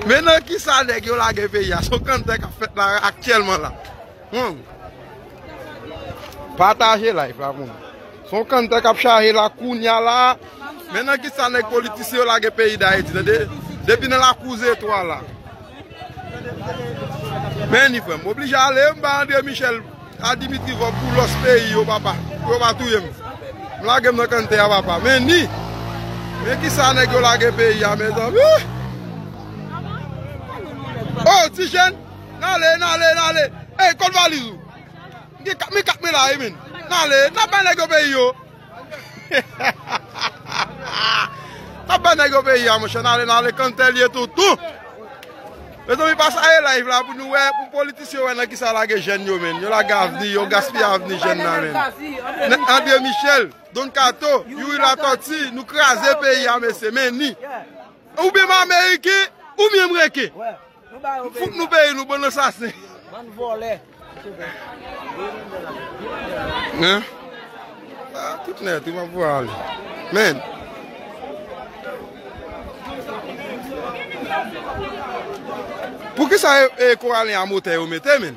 Men nan kisa nèg yo lage peyi a. Son kanntè kap fèt la aktyèlman la. Humm. Pataje live la pou mwen. Son kanntè kap chaje la kounya la. Men nan kisa nèg politisyen yo lage peyi dayiti. Tande. Depi nan lakou zetwa la. Meni frèm. Oblije ale m ba Andre Michel. A Dimitri vòb pou lòs peyi yo papa pou yo pa touye m m lage m nan kann tè a papa men ni men kisa nèg yo lage peyi a mezanmi oh ti jèn n ale n ale n ale ey kot valiz ou m gen 4 mil 4 mil la wi min n ale n ap bay nèg yo peyi yo. Map bay nèg yo peyi a monchè nale nale kanntè liye tou tou Mezanmi pasaje live la pou nou wè pou politisyen yo wè nan kisa yo lage jèn yo menn yo lage avni yo gaspiye avni jèn nan menn Andre Michel Don Kato Youri Latòti nou kraze peyi a mesye menni oubyen m ameriken oubyen m reken M fout nou peyi nou bann ansasen. Bann vòlè. Hein. Ah tout net wi map voye ale. Men. Poukisa e koralen a motè yo mete men.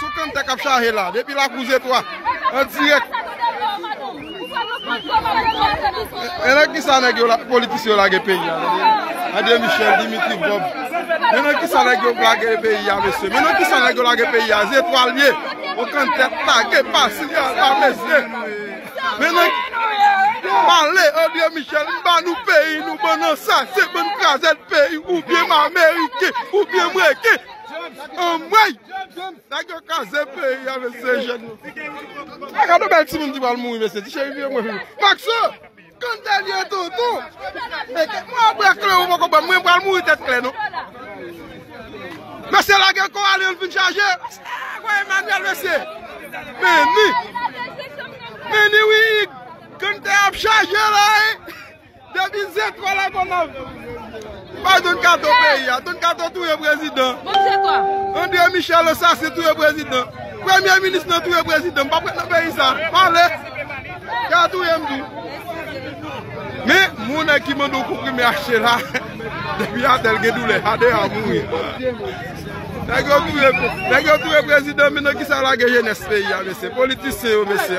Sou kanta kap chaje la depi lakou zetwa an direk. E nan kisa neg yo politisyen yo lage peyi a tande. Andre Michel, Dimitri Vob. Men nan kisa neg yo lage peyi a mesye. Men nan kisa neg yo lage peyi a. Zetwa l ye. Ou kanta lage pase la mesye. Men nan pale Andre Michel m ba nou peyi nou bann ansasen bann krazèd peyi ou byen m ameriken ou byen m reken. Anmweyy! Nèg yo kraze peyi a mesye jèn yo. A gade bèl timoun ki pral mouri mesye ti cheri vye mwen vini. Maxo! Kon sa l ye tonton. Mwen ap bwè klè ou poko banm mwen pral mouri tèt klè non. Mesye lage kò a li ann fin chaje. Eeh voye Emmanuel mesye. Meni. Meni wi Hugues. Kon sa ap chaje la wi. Depi zetwa la konav. Bay don kato peyi a. Don kato touye prezidan. Andre michel assasin touye prezidan. Premye minis nan touye prezidan. M pa pret nan peyi sa. Pale. Ya touye m tou. Me moun e ki mande w konprime achte la. Depi a tel gen doule. A de a mouri. Nèg yo touye prezidan. Menan ki sa lage jenès peyi a mesye. Politisyen yo mesye.